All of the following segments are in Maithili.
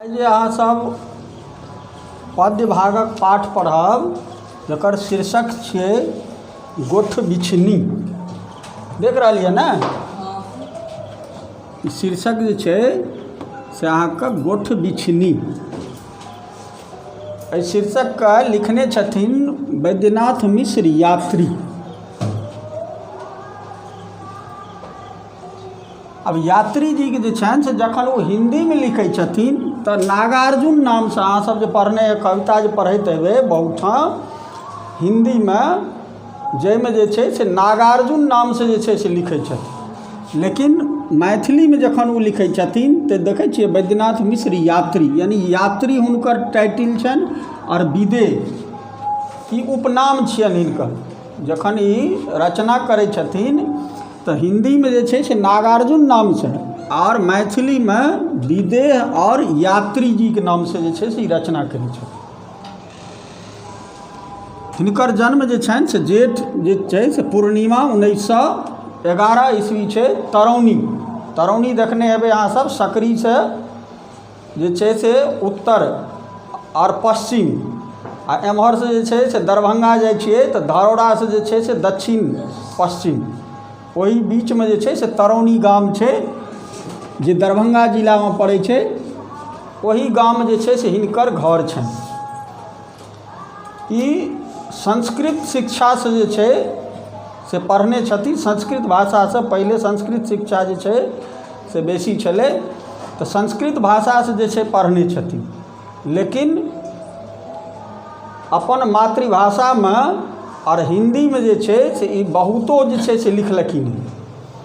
आइ जे अहाँ सब पद्य भागक पाठ पढ़ब जकर शीर्षक छियै गोठ बिछनी देख रहल यऽ ने ई शीर्षक जे छै से अहाँके गोठ बिछनी एहि शीर्षकके लिखने छथिन बैद्यनाथ मिश्र यात्री आब यात्री जीके जे छनि से जखन ओ हिन्दीमे लिखै छथिन तऽ नागार्जुन नामसँ अहाँ सब जे पढ़ने हेबै कविता जे पढ़ैत हेबै बहुत ठाम हिन्दीमे जाहिमे जे छै से नागार्जुन नामसँ जे छै से लिखै छथिन लेकिन मैथिलीमे जखन ओ लिखै छथिन तऽ देखै छियै बैद्यनाथ मिश्र यात्री यानि यात्री हुनकर टाइटिल छनि आओर विदे ई उपनाम छियनि हिनकर जखन ई रचना करै छथिन तऽ हिन्दीमे जे छै से नागार्जुन नामसँ आओर मैथिलीमे विदेह आओर यात्री जीके नामसँ जे छै से ई रचना कयने छथि हिनकर जन्म जे छनि से जेठ जे छै से पूर्णिमा उन्नैस सए एगारह ईस्वी छै तरौनी तरौनी देखने हेबै अहाँसभ सकरीसँ जे छै से उत्तर आओर पश्चिम आओर एम्हरसँ जे छै से दरभङ्गा जाइ छिए तऽ धरहरासँ जे छै से दच्छिन पश्चिम ओहि बीचमे जे छै से तरौनी गाम छै जे दरभङ्गा जिलामे पड़ै छै ओहि गाममे जे छै से हिनकर घर छनि ई संस्कृत शिक्षासँ जे छै से पढ़ने छथिन संस्कृत भाषासँ पहिले संस्कृत शिक्षा जे छै से बेसी छलै तऽ संस्कृत भाषासँ जे छै पढ़ने छथिन लेकिन अपन मातृभाषामे आओर हिन्दीमे जे छै से ई बहुतो जे छै से लिखलखिन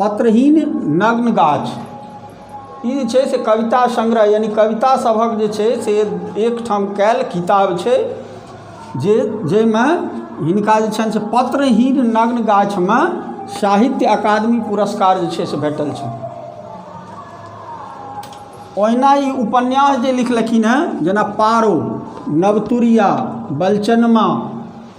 पत्रहीन नग्न गाछ ई जे छै से कविता सङ्ग्रह यानि कविता सभक जे छै से एकठाम कयल किताब छै जे जाहिमे हिनका जे छनि से पत्रहीन नग्न गाछमे साहित्य अकादमी पुरस्कार जे छै से भेटल छनि ओहिना ई उपन्यास जे लिखलखिन हेँ जेना पारो नवतुरिया बलचनमा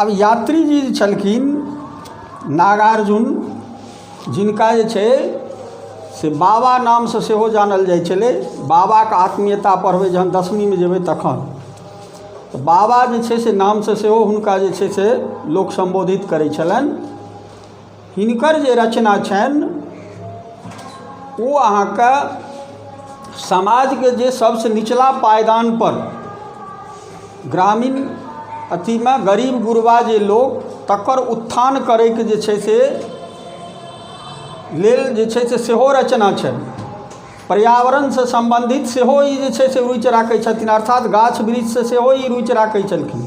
अब यात्री जी जे छलखिन नागार्जुन जिनका जे छै से बाबा नामसँ सेहो जानल जाइ छलै बाबाके आत्मीयता पढ़बै जहन दसमीमे जेबै तखन तऽ बाबा जे छै से नामसँ सेहो हुनका जे छै से लोक सम्बोधित करै छलनि हिनकर जे रचना छनि ओ अहाँके समाजके जे सबसँ निचला पायदानपर ग्रामीण अथीमे गरीब गुरबा जे लोक तकर उत्थान करैके जे छै से लेल जे छै से सेहो रचना छनि पर्यावरणसँ सम्बन्धित सेहो ई जे छै से रुचि राखै छथिन अर्थात गाछ वृक्षसँ सेहो ई रुचि राखै छलखिन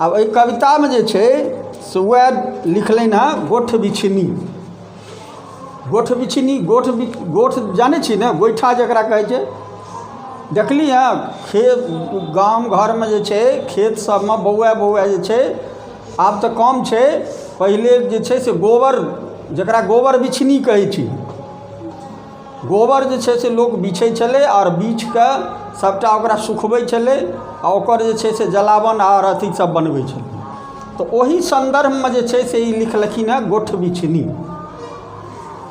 आब एहि कवितामे जे छै से उएह लिखलनि हेँ गोठ बिछिन्नी गोठ बिछिन्नी गोठ बि गोठ जानै छी ने गोइठा जकरा कहै छै देखली हेँ खेत गाम घरमे जे छै खेत सभमे बौआ बौआ जे छै आब तऽ कम छै पहिले जे छै से गोबर जकरा गोबर बिछिन्नी कहै छी गोबर जे छै से लोक बीछै छलै आओर बीछि कऽ सभटा ओकरा सुखबै छलै आ ओकर जे छै से जलावन आओर अथीसभ बनबै छलै तऽ ओही सन्दर्भमे जे छै से ई लिखलखिन हेँ गोठबिछनी